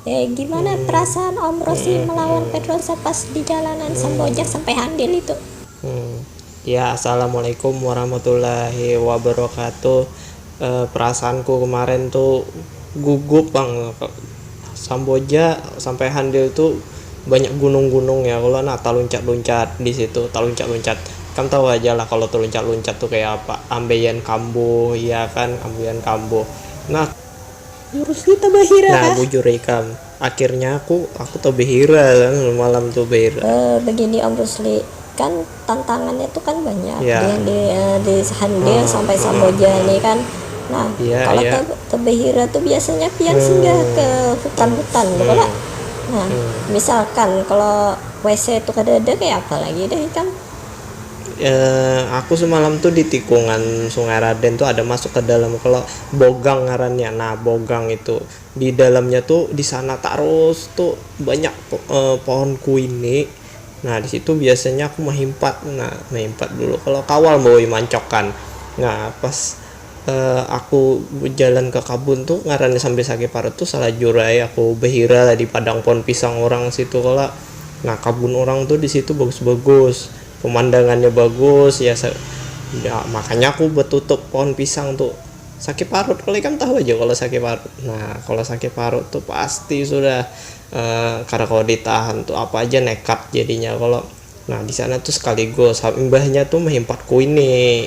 Eh, gimana hmm. perasaan Om Rosi hmm. melawan Pedrosa pas di jalanan hmm. Sambojak sampai Handil itu? Hmm. Ya, Assalamualaikum warahmatullahi wabarakatuh. Eh, perasaanku kemarin tuh gugup bang. Samboja sampai Handil tuh banyak gunung-gunung ya. Kalau nah taluncat-luncat di situ, taluncat-luncat. Kan tahu aja lah kalau taluncat-luncat tuh kayak apa. Ambeien kambuh, ya kan, ambeien kambuh. Nah, Nah bujur ikam, akhirnya aku aku tebehira malam tu behira. Begini Om Rusli, kan tantangannya tu kan banyak di yang di di Handir sampai Samboja ni kan. Nah, kalo te tebehira tu biasanya pian singgah ke hutan-hutan tu kalo. Nah, misalkan kalo WC tu kadada kaya apa lagi deh ikam. eh, aku semalam tuh di tikungan Sungai Raden tuh ada masuk ke dalam kalau bogang ngarannya nah bogang itu di dalamnya tuh di sana tarus tuh banyak eh, pohon kuini nah di situ biasanya aku mahimpat nah mahimpat dulu kalau kawal bawa mancokan nah pas uh, aku bejalan ke kabun tuh ngarannya sambil sakit parut tuh salajur aja aku behira lah di padang pohon pisang orang situ kala nah kabun orang tuh di situ bagus-bagus pemandangannya bagus ya, ya makanya aku betutup pohon pisang tuh sakit parut kalau ikan tahu aja kalau sakit parut nah kalau sakit parut tuh pasti sudah uh, karena kalau ditahan tuh apa aja nekat jadinya kalau nah di sana tuh sekaligus imbahnya tuh mehimpat kuini